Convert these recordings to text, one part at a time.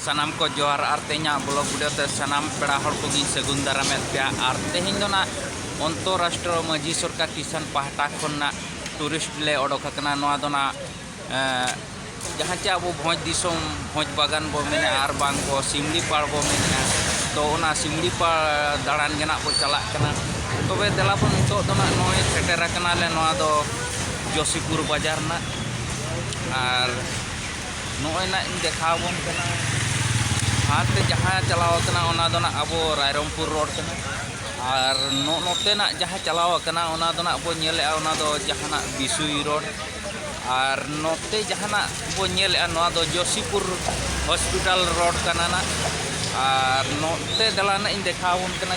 ᱥᱟᱱᱟᱢ ᱠᱚ ᱡᱚᱦᱟᱨ ᱟᱨ ᱛᱮᱦᱮᱧᱟᱜ ᱵᱞᱚᱜ ᱵᱷᱤᱰᱤᱭᱳ ᱛᱮ ᱥᱟᱱᱟᱢ ᱯᱮᱲᱟ ᱦᱚᱲ ᱠᱚᱜᱤᱧ ᱥᱟᱹᱜᱩᱱ ᱫᱟᱨᱟᱢᱮᱫ ᱯᱮᱭᱟ ᱟᱨ ᱛᱮᱦᱮᱧ ᱫᱚ ᱱᱟᱜ ᱚᱱᱛᱚᱨᱟᱥᱴᱨᱚ ᱢᱟᱹᱡᱷᱤ ᱥᱚᱨᱠᱟᱨ ᱠᱤᱥᱟᱱ ᱯᱟᱦᱴᱟ ᱠᱷᱚᱱ ᱱᱟᱜ ᱴᱩᱨᱤᱥᱴ ᱞᱮ ᱚᱰᱚᱠ ᱟᱠᱟᱱᱟ ᱱᱚᱣᱟ ᱫᱚ ᱱᱟᱜ ᱡᱟᱦᱟᱸ ᱪᱮ ᱟᱵᱚ ᱵᱷᱚᱸᱡᱽ ᱫᱤᱥᱚᱢ ᱵᱷᱚᱸᱡᱽ ᱵᱟᱜᱟᱱ ᱵᱚ ᱢᱮᱱᱮᱜᱼᱟ ᱟᱨ ᱵᱟᱝ ᱵᱚ ᱥᱤᱢᱞᱤ ᱯᱟᱲ ᱵᱚ ᱢᱮᱱᱮᱜᱼᱟ ᱛᱚ ᱚᱱᱟ ᱥᱤᱢᱞᱤ ᱯᱟᱲ ᱫᱟᱬᱟᱱ ᱜᱮ ᱱᱟᱜ ᱵᱚ ᱪᱟᱞᱟᱜ ᱠᱟᱱᱟ ᱛᱚᱵᱮ ᱫᱮᱞᱟ ᱵᱚᱱ ᱱᱤᱛᱚᱜ ᱫᱚ ᱱᱟᱜ ᱱᱚᱜᱼᱚᱭ ᱥᱮᱴᱮᱨ ᱟᱠᱟᱱᱟᱞᱮ ᱱᱚᱣᱟ ᱫᱚ ᱡᱚᱥᱤᱯᱩᱨ ᱵᱟᱡᱟᱨ ᱱᱟᱜ ᱟᱨ ᱱᱚᱜᱼᱚᱭ ᱱᱟᱜ ᱤᱧ ᱫᱮᱠᱷᱟᱣ ᱟᱵᱚᱱ ᱠᱟᱱᱟ ᱦᱟᱱᱛᱮ ᱡᱟᱦᱟᱸ ᱪᱟᱞᱟᱣ ᱠᱟᱱᱟ ᱚᱱᱟ ᱫᱚ ᱱᱟᱜ ᱟᱵᱚ ᱨᱟᱭᱨᱚᱝᱯᱩᱨ ᱨᱳᱰ ᱠᱟᱱᱟ ᱟᱨ ᱱᱚᱜᱼᱚ ᱱᱚᱛᱮ ᱱᱟᱜ ᱡᱟᱦᱟᱸ ᱪᱟᱞᱟᱣ ᱠᱟᱱᱟ ᱚᱱᱟ ᱫᱚ ᱱᱟᱜ ᱵᱚᱱ ᱧᱮᱞᱮᱜᱼᱟ ᱚᱱᱟ ᱫᱚ ᱡᱟᱦᱟᱱᱟᱜ ᱵᱤᱥᱩᱭ ᱨᱳᱰ ᱟᱨ ᱱᱚᱛᱮ ᱡᱟᱦᱟᱱᱟᱜ ᱵᱚᱱ ᱧᱮᱞᱮᱜᱼᱟ ᱱᱚᱣᱟ ᱫᱚ ᱡᱚᱥᱤᱯᱩᱨ ᱦᱚᱥᱯᱤᱴᱟᱞ ᱨᱳᱰ ᱠᱟᱱᱟ ᱱᱟᱜ ᱟᱨ ᱱᱚᱛᱮ ᱫᱮᱞᱟ ᱱᱟᱜ ᱤᱧ ᱫᱮᱠᱷᱟᱣ ᱟᱵᱚᱱ ᱠᱟᱱᱟ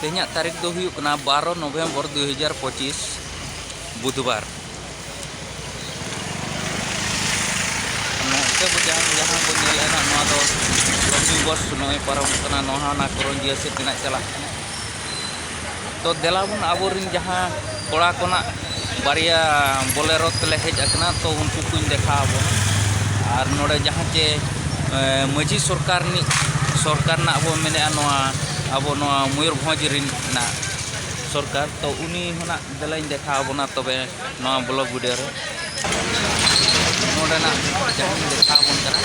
ᱛᱮᱦᱮᱧᱟᱜ ᱛᱟᱹᱨᱤᱠᱷ ᱫᱚ ᱦᱩᱭᱩᱜ ᱠᱟᱱᱟ ᱵᱟᱨᱚ ᱱᱚᱵᱷᱮᱢᱵᱚᱨ ᱫᱩ ᱦᱟᱡᱟᱨ ᱯᱚᱸᱪᱤᱥ ᱵᱩᱫᱷᱵᱟᱨ ᱱᱚᱛᱮ ᱵᱚ ᱡᱟᱦᱟᱸ ᱡᱟᱦᱟᱸ ᱵᱚ ᱧᱮᱞ ᱮᱱᱟ ᱱᱚᱣᱟ ᱫᱚ ᱨᱚᱵᱤ ᱵᱚᱥ ᱱᱚᱜᱼᱚᱭ ᱯᱟᱨᱚᱢᱚᱜ ᱠᱟᱱᱟ ᱱᱚᱣᱟ ᱦᱚᱸ ᱚᱱᱟ ᱠᱚᱨᱚᱱᱡᱤᱭᱟᱹ ᱥᱮᱫ ᱛᱮᱱᱟᱜ ᱪᱟᱞᱟᱜ ᱠᱟᱱᱟ ᱛᱚ ᱫᱮᱞᱟ ᱵᱚᱱ ᱟᱵᱚ ᱨᱮᱱ ᱡᱟᱦᱟᱸ ᱠᱚᱲᱟ ᱠᱚᱱᱟᱜ ᱵᱟᱨᱭᱟ ᱵᱚᱞᱮᱨᱚ ᱛᱮᱞᱮ ᱦᱮᱡ ᱟᱠᱟᱱᱟ ᱛᱚ ᱩᱱᱠᱩ ᱠᱚᱧ ᱫᱮᱠᱷᱟᱣ ᱟᱵᱚᱱᱟ ᱟᱨ ᱱᱚᱰᱮ ᱡᱟᱦᱟᱸ ᱪᱮ ᱢᱟᱺᱡᱷᱤ ᱥᱚᱨᱠᱟᱨ ᱨᱤᱱᱤᱡ ᱥᱚᱨᱠᱟᱨ ᱨᱮᱱᱟᱜ ᱵᱚ ᱢᱮᱱᱮᱫᱼᱟ ᱱᱚᱣᱟ ᱟᱵᱚ ᱱᱚᱣᱟ ᱢᱚᱭᱩᱨᱵᱷᱚᱸᱡᱽ ᱨᱮᱱᱟᱜ ᱥᱚᱨᱠᱟᱨ ᱛᱚ ᱩᱱᱤ ᱦᱚᱱᱟᱜ ᱫᱮᱞᱟᱧ ᱫᱮᱠᱷᱟᱣ ᱟᱵᱚᱱᱟ ᱛᱚᱵᱮ ᱱᱚᱣᱟ ᱵᱞᱚᱠ ᱵᱷᱤᱰᱤᱭᱳ ᱨᱮ ᱱᱚᱰᱮᱱᱟᱜ ᱡᱟᱦᱟᱸᱧ ᱫᱮᱠᱷᱟᱣ ᱟᱵᱚᱱ ᱠᱟᱱᱟ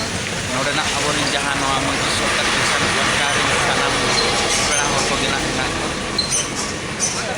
ᱱᱚᱰᱮᱱᱟᱜ ᱟᱵᱚᱨᱮᱱ ᱡᱟᱦᱟᱸ ᱱᱚᱣᱟ ᱢᱟᱺᱡᱷᱤ ᱥᱚᱨᱠᱟᱨ ᱯᱟᱦᱴᱟ ᱨᱮᱱ ᱥᱟᱱᱟᱢ ᱯᱮᱲᱟ ᱦᱚᱲ ᱠᱚᱜᱮ ᱱᱟᱜ ᱢᱮᱱᱟᱜ ᱠᱚᱣᱟ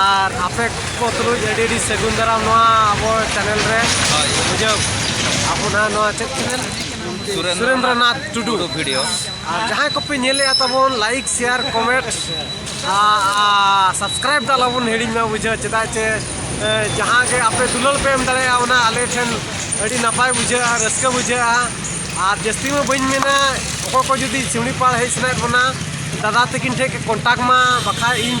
ᱟᱨ ᱟᱯᱮ ᱠᱚ ᱛᱩᱞᱩᱡ ᱟᱹᱰᱤ ᱟᱹᱰᱤ ᱥᱟᱹᱜᱩᱱ ᱫᱟᱨᱟᱢ ᱱᱚᱣᱟ ᱟᱵᱚ ᱪᱮᱱᱮᱞ ᱨᱮ ᱵᱩᱡᱷᱟᱹᱣ ᱟᱵᱚ ᱱᱟᱦᱟᱜ ᱱᱚᱣᱟ ᱪᱮᱫ ᱪᱮᱱᱮᱞ ᱥᱩᱨᱮᱱᱫᱨᱚᱱᱟᱛᱷ ᱴᱩᱰᱩ ᱵᱷᱤᱰᱤᱭᱳ ᱟᱨ ᱡᱟᱦᱟᱸᱭ ᱠᱚᱯᱮ ᱧᱮᱞᱮᱜᱼᱟ ᱛᱟᱵᱚᱱ ᱞᱟᱭᱤᱠ ᱥᱮᱭᱟᱨ ᱠᱚᱢᱮᱱᱴ ᱥᱟᱵᱥᱠᱨᱟᱭᱤᱵ ᱫᱚ ᱟᱞᱚᱵᱚᱱ ᱦᱤᱲᱤᱧ ᱢᱟ ᱵᱩᱡᱷᱟᱹᱣ ᱪᱮᱫᱟᱜ ᱪᱮ ᱡᱟᱦᱟᱸ ᱜᱮ ᱟᱯᱮ ᱫᱩᱞᱟᱹᱲ ᱯᱮ ᱮᱢ ᱫᱟᱲᱮᱭᱟᱜᱼᱟ ᱚᱱᱟ ᱟᱞᱮ ᱴᱷᱮᱱ ᱟᱹᱰᱤ ᱱᱟᱯᱟᱭ ᱵᱩᱡᱷᱟᱹᱜᱼᱟ ᱨᱟᱹᱥᱠᱟᱹ ᱵᱩᱡᱷᱟᱹᱜᱼᱟ ᱟᱨ ᱡᱟᱹᱥᱛᱤ ᱢᱟ ᱵᱟᱹᱧ ᱢᱮᱱᱟ ᱚᱠᱚᱭ ᱠᱚ ᱡᱩᱫᱤ ᱥᱤᱢᱲᱤᱯᱟᱲ ᱦᱮᱡ ᱥᱟᱱᱟᱭᱮᱫ ᱵᱚᱱᱟ ᱫᱟᱫᱟ ᱛᱟᱹᱠᱤᱱ ᱴᱷᱮᱱ ᱠᱚᱱᱴᱟᱠᱴ ᱢᱟ ᱵᱟᱠᱷᱟᱡ ᱤᱧ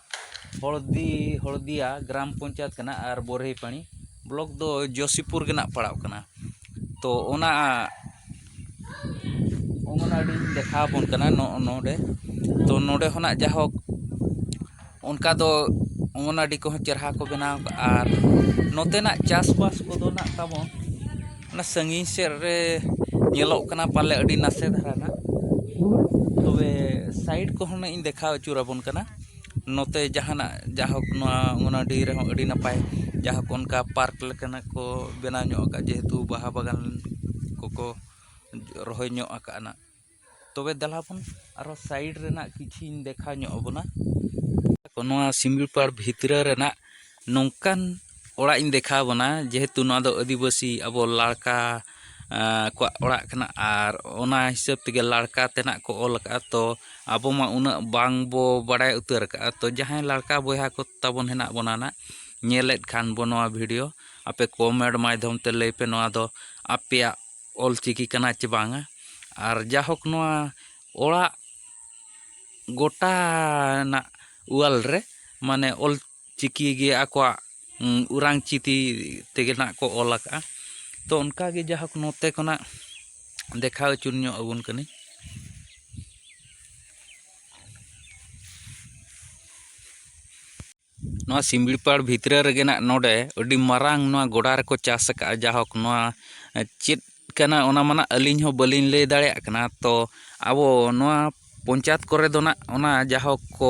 ᱦᱚᱲᱫᱤ ᱦᱚᱲᱫᱤᱭᱟ ᱜᱨᱟᱢ ᱯᱚᱧᱪᱟᱭᱮᱛ ᱠᱟᱱᱟ ᱟᱨ ᱵᱚᱨᱦᱤ ᱯᱟᱲᱤ ᱵᱞᱚᱠ ᱫᱚ ᱡᱚᱥᱤᱯᱩᱨ ᱜᱮ ᱱᱟᱜ ᱯᱟᱲᱟᱜ ᱠᱟᱱᱟ ᱛᱚ ᱚᱱᱟ ᱚᱝᱜᱚᱱᱚᱣᱟᱲᱤᱧ ᱫᱮᱠᱷᱟᱣ ᱟᱵᱚᱱ ᱠᱟᱱᱟ ᱱᱚᱜᱼᱚ ᱱᱚᱰᱮ ᱛᱚ ᱱᱚᱰᱮ ᱦᱚᱱᱟᱜ ᱡᱟᱭᱦᱳᱠ ᱚᱱᱠᱟ ᱫᱚ ᱚᱝᱜᱚᱱᱚᱣᱟᱲᱤ ᱠᱚᱦᱚᱸ ᱪᱮᱦᱨᱟ ᱠᱚ ᱵᱮᱱᱟᱣ ᱠᱟᱜᱼᱟ ᱟᱨ ᱱᱚᱛᱮᱱᱟᱜ ᱪᱟᱥᱵᱟᱥ ᱠᱚᱫᱚ ᱱᱟᱜ ᱛᱟᱵᱚᱱ ᱚᱱᱟ ᱥᱟᱺᱜᱤᱧ ᱥᱮᱫ ᱨᱮ ᱧᱮᱞᱚᱜ ᱠᱟᱱᱟ ᱯᱟᱞᱮ ᱟᱹᱰᱤ ᱱᱟᱥᱮ ᱫᱷᱟᱨᱟ ᱱᱟᱜ ᱛᱚᱵᱮ ᱥᱟᱭᱤᱰ ᱠᱚᱦᱚᱸ ᱱᱟᱜ ᱤᱧ ᱫᱮᱠᱷᱟᱣ ᱟᱹᱪᱩᱨ ᱟᱵᱚᱱ ᱠᱟᱱᱟ ᱱᱚᱛᱮ ᱡᱟᱦᱟᱱᱟᱜ ᱡᱟᱭᱦᱳᱠ ᱱᱚᱣᱟ ᱚᱱᱟ ᱰᱤ ᱨᱮᱦᱚᱸ ᱟᱹᱰᱤ ᱱᱟᱯᱟᱭ ᱡᱟᱭᱦᱳᱠ ᱚᱱᱠᱟ ᱯᱟᱨᱠ ᱞᱮᱠᱟᱱᱟᱜ ᱠᱚ ᱵᱮᱱᱟᱣ ᱧᱚᱜ ᱠᱟᱜᱼᱟ ᱡᱮᱦᱮᱛᱩ ᱵᱟᱦᱟ ᱵᱟᱜᱟᱱ ᱠᱚᱠᱚ ᱨᱚᱦᱚᱭ ᱧᱚᱜ ᱠᱟᱜᱼᱟ ᱱᱟᱜ ᱛᱚᱵᱮ ᱫᱮᱞᱟ ᱵᱚᱱ ᱟᱨᱚ ᱥᱟᱭᱤᱰ ᱨᱮᱱᱟᱜ ᱠᱤᱪᱷᱤᱧ ᱫᱮᱠᱷᱟᱣ ᱧᱚᱜ ᱟᱵᱚᱱᱟ ᱱᱚᱣᱟ ᱥᱤᱢᱲᱤᱯᱟᱲ ᱵᱷᱤᱛᱨᱟᱹ ᱨᱮᱱᱟᱜ ᱱᱚᱝᱠᱟᱱ ᱚᱲᱟᱜ ᱤᱧ ᱫᱮᱠᱷᱟᱣ ᱟᱵᱚᱱᱟ ᱡᱮᱦᱮᱛᱩ ᱱᱚᱣᱟ ᱫᱚ ᱟᱹᱫᱤᱵᱟᱹᱥᱤ ᱟᱵᱚ ᱞᱟᱲᱠᱟ ᱠᱚᱣᱟᱜ ᱚᱲᱟᱜ ᱠᱟᱱᱟ ᱟᱨ ᱚᱱᱟ ᱦᱤᱥᱟᱹᱵ ᱛᱮᱜᱮ ᱞᱟᱲᱠᱟ ᱛᱮᱱᱟᱜ ᱠᱚ ᱚᱞ ᱟᱠᱟᱫᱼᱟ ᱛᱚ ᱟᱵᱚ ᱢᱟ ᱩᱱᱟᱹᱜ ᱵᱟᱝ ᱵᱚ ᱵᱟᱲᱟᱭ ᱩᱛᱟᱹᱨ ᱟᱠᱟᱫᱼᱟ ᱛᱚ ᱡᱟᱦᱟᱸᱭ ᱞᱟᱲᱠᱟ ᱵᱚᱭᱦᱟ ᱠᱚ ᱛᱟᱵᱚᱱ ᱦᱮᱱᱟᱜ ᱵᱚᱱᱟ ᱱᱟᱜ ᱧᱮᱞᱮᱫ ᱠᱷᱟᱱ ᱵᱚ ᱱᱚᱣᱟ ᱵᱷᱤᱰᱤᱭᱳ ᱟᱯᱮ ᱠᱚᱢᱮᱱᱴ ᱢᱟᱫᱽᱫᱷᱚᱢ ᱛᱮ ᱞᱟᱹᱭ ᱯᱮ ᱱᱚᱣᱟ ᱫᱚ ᱟᱯᱮᱭᱟᱜ ᱚᱞ ᱪᱤᱠᱤ ᱠᱟᱱᱟ ᱪᱮ ᱵᱟᱝᱟ ᱟᱨ ᱡᱟᱭᱦᱳᱠ ᱱᱚᱣᱟ ᱚᱲᱟᱜ ᱜᱚᱴᱟ ᱨᱮᱱᱟᱜ ᱚᱣᱟᱞ ᱨᱮ ᱢᱟᱱᱮ ᱚᱞ ᱪᱤᱠᱤ ᱜᱮ ᱟᱠᱚᱣᱟᱜ ᱚᱨᱟᱝ ᱪᱤᱠᱤ ᱛᱮᱜᱮ ᱱᱟᱜ ᱠᱚ ᱚᱞ ᱟᱠᱟᱫᱼᱟ ᱛᱚ ᱚᱱᱠᱟᱜᱮ ᱡᱟᱭᱦᱳᱠ ᱱᱚᱛᱮ ᱠᱷᱚᱱᱟᱜ ᱫᱮᱠᱷᱟᱣ ᱦᱚᱪᱚ ᱧᱚᱜ ᱟᱵᱚᱱ ᱠᱟᱹᱱᱟᱹᱧ ᱱᱚᱣᱟ ᱥᱤᱢᱲᱤᱯᱟᱲ ᱵᱷᱤᱛᱨᱤ ᱨᱮᱜᱮ ᱱᱟᱜ ᱱᱚᱰᱮ ᱟᱹᱰᱤ ᱢᱟᱨᱟᱝ ᱱᱚᱣᱟ ᱜᱚᱰᱟ ᱨᱮᱠᱚ ᱪᱟᱥ ᱟᱠᱟᱫᱼᱟ ᱡᱟᱭᱦᱳᱠ ᱱᱚᱣᱟ ᱪᱮᱫ ᱠᱟᱱᱟ ᱚᱱᱟ ᱢᱟ ᱱᱟᱜ ᱟᱹᱞᱤᱧ ᱦᱚᱸ ᱵᱟᱹᱞᱤᱧ ᱞᱟᱹᱭ ᱫᱟᱲᱮᱭᱟᱜ ᱠᱟᱱᱟ ᱛᱚ ᱟᱵᱚ ᱱᱚᱣᱟ ᱯᱚᱧᱪᱟᱭᱮᱛ ᱠᱚᱨᱮ ᱫᱚ ᱱᱟᱜ ᱚᱱᱟ ᱡᱟᱭᱦᱳᱠ ᱠᱚ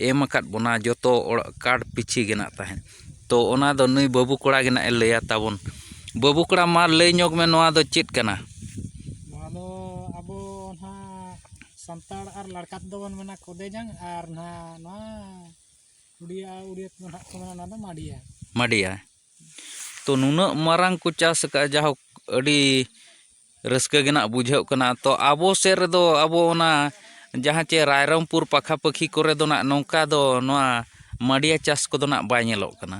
ᱮᱢ ᱟᱠᱟᱫ ᱵᱚᱱᱟ ᱡᱚᱛᱚ ᱚᱲᱟᱜ ᱠᱟᱨᱰ ᱯᱤᱪᱷᱤ ᱜᱮ ᱱᱟᱜ ᱛᱟᱦᱮᱸᱫ ᱛᱚ ᱚᱱᱟ ᱫᱚ ᱱᱩᱭ ᱵᱟᱹᱵᱩ ᱠᱚᱲᱟ ᱜᱮ ᱱᱟᱜ ᱮ ᱞᱟᱹᱭᱟ ᱛᱟᱵᱚᱱ ᱵᱟᱹᱵᱩ ᱠᱚᱲᱟ ᱢᱟ ᱞᱟᱹᱭ ᱧᱚᱜᱽ ᱢᱮ ᱱᱚᱣᱟ ᱫᱚ ᱪᱮᱫ ᱠᱟᱱᱟ ᱱᱚᱣᱟ ᱫᱚ ᱟᱵᱚ ᱱᱟᱦᱟᱜ ᱥᱟᱱᱛᱟᱲ ᱟᱨ ᱞᱟᱲᱠᱟ ᱛᱮᱫᱚ ᱵᱚᱱ ᱢᱮᱱᱟ ᱠᱚᱫᱮ ᱡᱟᱝ ᱟᱨ ᱱᱟᱦᱟᱜ ᱱᱚᱣᱟ ᱢᱟᱰᱤᱭᱟ ᱛᱚ ᱱᱩᱱᱟᱹᱜ ᱢᱟᱨᱟᱝ ᱠᱚ ᱪᱟᱥ ᱟᱠᱟᱫᱼᱟ ᱡᱟᱭᱦᱳᱠ ᱟᱹᱰᱤ ᱨᱟᱹᱥᱠᱟᱹ ᱜᱮ ᱱᱟᱦᱟᱜ ᱵᱩᱡᱷᱟᱹᱜ ᱠᱟᱱᱟ ᱛᱚ ᱟᱵᱚ ᱥᱮᱫ ᱨᱮᱫᱚ ᱟᱵᱚ ᱚᱱᱟ ᱡᱟᱦᱟᱸ ᱪᱮ ᱨᱟᱭᱨᱚᱝᱯᱩᱨ ᱯᱟᱠᱷᱟ ᱯᱟᱹᱠᱷᱤ ᱠᱚᱨᱮ ᱫᱚ ᱱᱟᱦᱟᱜ ᱱᱚᱝᱠᱟ ᱫᱚ ᱱᱚᱣᱟ ᱢᱟᱰᱤᱭᱟ ᱪᱟᱥ ᱠᱚᱫᱚ ᱱᱟᱦᱟᱜ ᱵᱟᱭ ᱧᱮᱞᱚᱜ ᱠᱟᱱᱟ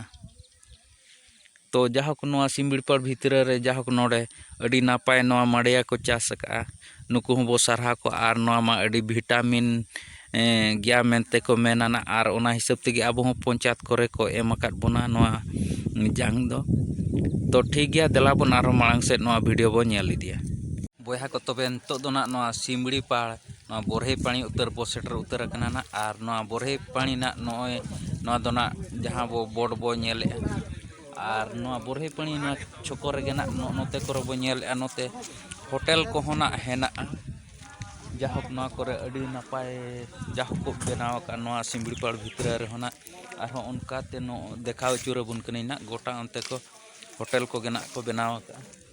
ᱛᱚ ᱡᱟᱭᱦᱳᱠ ᱱᱚᱣᱟ ᱥᱤᱢᱲᱤᱯᱟᱲ ᱵᱷᱤᱛᱨᱤ ᱨᱮ ᱡᱟᱭᱦᱳᱠ ᱱᱚᱰᱮ ᱟᱹᱰᱤ ᱱᱟᱯᱟᱭ ᱱᱚᱣᱟ ᱢᱟᱰᱮᱭᱟ ᱠᱚ ᱪᱟᱥ ᱟᱠᱟᱫᱼᱟ ᱱᱩᱠᱩ ᱦᱚᱸᱵᱚ ᱥᱟᱨᱦᱟᱣ ᱠᱚᱣᱟ ᱟᱨ ᱱᱚᱣᱟ ᱢᱟ ᱟᱹᱰᱤ ᱵᱷᱤᱴᱟᱢᱤᱱ ᱜᱮᱭᱟ ᱢᱮᱱᱛᱮ ᱠᱚ ᱢᱮᱱᱟ ᱱᱟᱜ ᱟᱨ ᱚᱱᱟ ᱦᱤᱥᱟᱹᱵ ᱛᱮᱜᱮ ᱟᱵᱚ ᱦᱚᱸ ᱯᱚᱧᱪᱟᱭᱮᱛ ᱠᱚᱨᱮ ᱠᱚ ᱮᱢ ᱟᱠᱟᱫ ᱵᱚᱱᱟ ᱱᱚᱣᱟ ᱡᱟᱝ ᱫᱚ ᱛᱚ ᱴᱷᱤᱠ ᱜᱮᱭᱟ ᱫᱮᱞᱟ ᱵᱚᱱ ᱟᱨᱦᱚᱸ ᱢᱟᱲᱟᱝ ᱥᱮᱫ ᱱᱚᱣᱟ ᱵᱷᱤᱰᱭᱳ ᱵᱚᱱ ᱧᱮᱞ ᱤᱫᱤᱭᱟ ᱵᱚᱭᱦᱟ ᱠᱚ ᱛᱚᱵᱮ ᱱᱤᱛᱚᱜ ᱫᱚ ᱱᱟᱜ ᱱᱚᱣᱟ ᱥᱤᱢᱲᱤ ᱯᱟᱲ ᱱᱚᱣᱟ ᱵᱚᱨᱦᱮ ᱯᱟᱹᱲᱤ ᱩᱛᱟᱹᱨ ᱵᱚ ᱥᱮᱴᱮᱨ ᱩᱛᱟᱹᱨ ᱟᱠᱟᱱᱟ ᱱᱟᱜ ᱟᱨ ᱱᱚᱣᱟ ᱵᱚᱨᱦᱮ ᱯᱟᱹᱲᱤ ᱱᱟᱜ ᱱᱚᱜᱼᱚᱭ ᱱᱚᱣᱟ ᱫᱚ ᱱᱟᱜ ᱡᱟᱦᱟᱸ ᱵᱚ ᱵᱳᱰ ᱵᱚ ᱧᱮᱞᱮᱜᱼᱟ ᱟᱨ ᱱᱚᱣᱟ ᱵᱚᱨᱦᱮ ᱯᱟᱹᱲᱤ ᱱᱚᱣᱟ ᱪᱷᱚᱠᱚ ᱨᱮᱜᱮ ᱱᱟᱜ ᱱᱚᱜᱼᱚ ᱱᱚᱛᱮ ᱠᱚᱨᱮ ᱵᱚ ᱧᱮᱞᱮᱜᱼᱟ ᱱᱚᱛᱮ ᱦᱳᱴᱮᱞ ᱠᱚᱦᱚᱸ ᱱᱟᱜ ᱦᱮᱱᱟᱜᱼᱟ ᱡᱟᱭᱦᱳᱠ ᱱᱚᱣᱟ ᱠᱚᱨᱮ ᱟᱹᱰᱤ ᱱᱟᱯᱟᱭ ᱡᱟᱭᱦᱳᱠ ᱠᱚ ᱵᱮᱱᱟᱣ ᱟᱠᱟᱫᱼᱟ ᱱᱚᱣᱟ ᱥᱤᱢᱲᱤ ᱯᱟᱲ ᱵᱷᱤᱛᱨᱤ ᱨᱮᱦᱚᱸ ᱱᱟᱜ ᱟᱨᱦᱚᱸ ᱚᱱᱠᱟᱛᱮ ᱱᱚᱜᱼᱚᱭ ᱫᱮᱠᱷᱟᱣ ᱟᱹᱪᱩᱨ ᱟᱵᱚᱱ ᱠᱟᱹᱱᱟᱹᱧ ᱱᱟᱜ ᱜᱳᱴᱟ ᱚᱱᱛᱮ ᱠᱚ ᱦᱳᱴᱮᱞ ᱠᱚᱜᱮ ᱱᱟᱜ ᱠᱚ ᱵᱮᱱᱟᱣ ᱟᱠᱟᱫᱼᱟ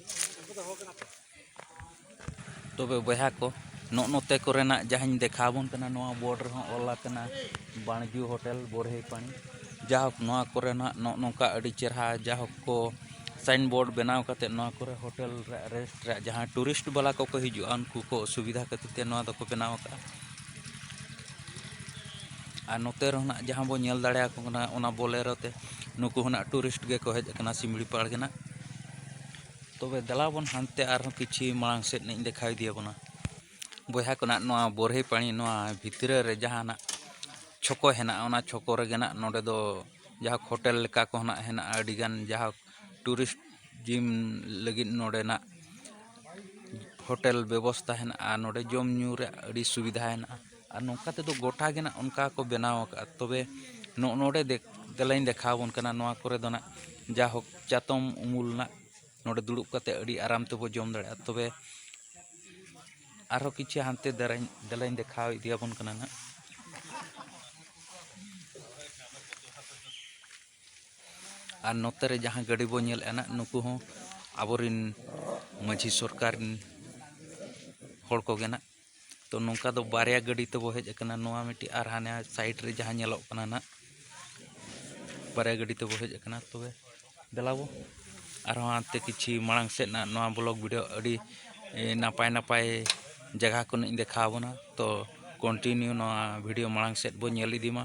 ᱛᱚᱵᱮ ᱵᱚᱭᱦᱟ ᱠᱚ ᱱᱚᱜ ᱱᱚᱛᱮ ᱠᱚᱨᱮᱱᱟᱜ ᱡᱟᱦᱟᱸᱧ ᱫᱮᱠᱷᱟᱣ ᱵᱚᱱ ᱠᱟᱱᱟ ᱱᱚᱣᱟ ᱵᱳᱨᱰ ᱨᱮᱦᱚᱸ ᱚᱞ ᱟᱠᱟᱱᱟ ᱵᱟᱬᱡᱩ ᱦᱳᱴᱮᱞ ᱵᱚᱨᱦᱮ ᱯᱟᱹᱱᱤ ᱡᱟᱭᱦᱳᱠ ᱱᱚᱣᱟ ᱠᱚᱨᱮᱱᱟᱜ ᱱᱚᱜ ᱱᱚᱝᱠᱟ ᱟᱹᱰᱤ ᱪᱮᱨᱦᱟ ᱡᱟᱭᱦᱳᱠ ᱠᱚ ᱥᱟᱭᱤᱱ ᱵᱳᱨᱰ ᱵᱮᱱᱟᱣ ᱠᱟᱛᱮ ᱱᱚᱣᱟ ᱠᱚᱨᱮ ᱦᱳᱴᱮᱞ ᱨᱮ ᱨᱮᱥᱴ ᱨᱮ ᱡᱟᱦᱟᱸ ᱴᱩᱨᱤᱥᱴ ᱵᱟᱞᱟ ᱠᱚᱠᱚ ᱦᱤᱡᱩᱜᱼᱟ ᱩᱱᱠᱩ ᱠᱚ ᱥᱩᱵᱤᱫᱷᱟ ᱠᱷᱟᱹᱛᱤᱨ ᱛᱮ ᱱᱚᱣᱟ ᱫᱚᱠᱚ ᱵᱮᱱᱟᱣ ᱟᱠᱟᱫᱼᱟ ᱟᱨ ᱱᱚᱛᱮ ᱨᱮᱦᱚᱸ ᱡᱟᱦᱟᱸ ᱵᱚᱱ ᱧᱮᱞ ᱫᱟᱲᱮᱭᱟᱠᱚ ᱠᱟᱱᱟ ᱚᱱᱟ ᱵᱚᱞᱮᱨᱳ ᱛᱮ ᱱᱩᱠᱩ ᱦᱚᱸ ᱴᱩᱨᱤᱥᱴ ᱜᱮᱠᱚ ᱦᱮᱡ ᱟᱠᱟᱱᱟ ᱥᱤᱢᱲᱤᱯᱟᱲ ᱜᱮ ᱱᱟᱜ ᱛᱚᱵᱮ ᱫᱮᱞᱟ ᱵᱚᱱ ᱦᱟᱱᱛᱮ ᱟᱨᱦᱚᱸ ᱠᱤᱪᱷᱩ ᱢᱟᱲᱟᱝ ᱥᱮᱫ ᱤᱧ ᱫᱮᱠᱷᱟᱣ ᱤᱫᱤᱭᱟᱵᱚᱱᱟ ᱵᱚᱭᱦᱟ ᱠᱚᱱᱟᱜ ᱱᱚᱣᱟ ᱵᱚᱨᱦᱮ ᱯᱟᱹᱱᱤ ᱱᱚᱣᱟ ᱵᱷᱤᱛᱨᱤ ᱨᱮ ᱡᱟᱦᱟᱱᱟᱜ ᱪᱷᱚᱠᱚ ᱦᱮᱱᱟᱜᱼᱟ ᱚᱱᱟ ᱪᱷᱚᱠᱚ ᱨᱮᱜᱮ ᱱᱟᱜ ᱱᱚᱰᱮ ᱫᱚ ᱡᱟᱦᱟᱸ ᱦᱳᱴᱮᱞ ᱞᱮᱠᱟ ᱠᱚ ᱱᱟᱜ ᱦᱮᱱᱟᱜᱼᱟ ᱟᱹᱰᱤ ᱜᱟᱱ ᱡᱟᱦᱟᱸ ᱴᱩᱨᱤᱥᱴ ᱡᱤᱢ ᱞᱟᱹᱜᱤᱫ ᱱᱚᱰᱮᱱᱟᱜ ᱦᱳᱴᱮᱞ ᱵᱮᱵᱚᱥᱛᱷᱟ ᱦᱮᱱᱟᱜᱼᱟ ᱱᱚᱰᱮ ᱡᱚᱢ ᱧᱩ ᱨᱮᱭᱟᱜ ᱟᱹᱰᱤ ᱥᱩᱵᱤᱫᱷᱟ ᱦᱮᱱᱟᱜᱼᱟ ᱟᱨ ᱱᱚᱝᱠᱟ ᱛᱮᱫᱚ ᱜᱚᱴᱟ ᱜᱮ ᱱᱟᱜ ᱚᱱᱠᱟ ᱠᱚ ᱵᱮᱱᱟᱣ ᱟᱠᱟᱫᱼᱟ ᱛᱚᱵᱮ ᱱᱚᱜᱼᱚ ᱱᱚᱰᱮ ᱫᱮᱞᱟᱧ ᱫᱮᱠᱷᱟᱣ ᱟᱵᱚᱱ ᱠᱟᱱᱟ ᱱᱚᱣᱟ ᱠᱚᱨᱮ ᱫᱚ ᱱᱟᱜ ᱡᱟᱭᱦᱳᱠ ᱪᱟᱛᱚᱢ ᱩᱢᱩᱞ ᱱᱟᱜ ᱱᱚᱰᱮ ᱫᱩᱲᱩᱵ ᱠᱟᱛᱮᱫ ᱟᱹᱰᱤ ᱟᱨᱟᱢ ᱛᱮᱵᱚᱱ ᱡᱚᱢ ᱫᱟᱲᱮᱭᱟᱜᱼᱟ ᱛᱚᱵᱮ ᱟᱨᱦᱚᱸ ᱠᱤᱪᱷᱩ ᱦᱟᱱᱛᱮ ᱫᱟᱨᱟᱧ ᱫᱮᱞᱟᱧ ᱫᱮᱠᱷᱟᱣ ᱤᱫᱤ ᱟᱵᱚᱱ ᱠᱟᱱᱟ ᱱᱟᱜ ᱟᱨ ᱱᱚᱛᱮ ᱨᱮ ᱡᱟᱦᱟᱸ ᱜᱟᱹᱰᱤ ᱵᱚᱱ ᱧᱮᱞᱮᱫᱼᱟ ᱱᱟᱜ ᱱᱩᱠᱩ ᱦᱚᱸ ᱟᱵᱚᱨᱮᱱ ᱢᱟᱹᱡᱷᱤ ᱥᱚᱨᱠᱟᱨ ᱨᱮᱱ ᱦᱚᱲ ᱠᱚᱜᱮ ᱱᱟᱜ ᱛᱚ ᱱᱚᱝᱠᱟ ᱫᱚ ᱵᱟᱨᱭᱟ ᱜᱟᱹᱰᱤ ᱛᱮᱵᱚ ᱦᱮᱡ ᱟᱠᱟᱱᱟ ᱱᱚᱣᱟ ᱢᱤᱫᱴᱤᱡ ᱟᱨ ᱦᱟᱱᱮ ᱥᱟᱭᱤᱰ ᱨᱮ ᱡᱟᱦᱟᱸ ᱧᱮᱞᱚᱜ ᱠᱟᱱᱟ ᱱᱟᱜ ᱵᱟᱨᱭᱟ ᱜᱟᱹᱰᱤ ᱛᱮᱵᱚ ᱦᱮᱡ ᱟᱠᱟᱱᱟ ᱛᱚᱵᱮ ᱫᱮᱞᱟ ᱵᱚ ᱟᱨᱦᱚᱸ ᱦᱟᱱᱛᱮ ᱠᱤᱪᱷᱩ ᱢᱟᱲᱟᱝ ᱥᱮᱫ ᱱᱟᱜ ᱱᱚᱣᱟ ᱵᱞᱚᱜ ᱵᱷᱤᱰᱤᱭᱳ ᱟᱹᱰᱤ ᱱᱟᱯᱟᱭ ᱱᱟᱯᱟᱭ ᱡᱟᱭᱜᱟ ᱠᱚ ᱱᱟᱜ ᱤᱧ ᱫᱮᱠᱷᱟᱣ ᱟᱵᱚᱱᱟ ᱛᱚ ᱠᱚᱱᱴᱤᱱᱤᱭᱩ ᱱᱚᱣᱟ ᱵᱷᱤᱰᱤᱭᱳ ᱢᱟᱲᱟᱝ ᱥᱮᱫ ᱵᱚ ᱧᱮᱞ ᱤᱫᱤ ᱢᱟ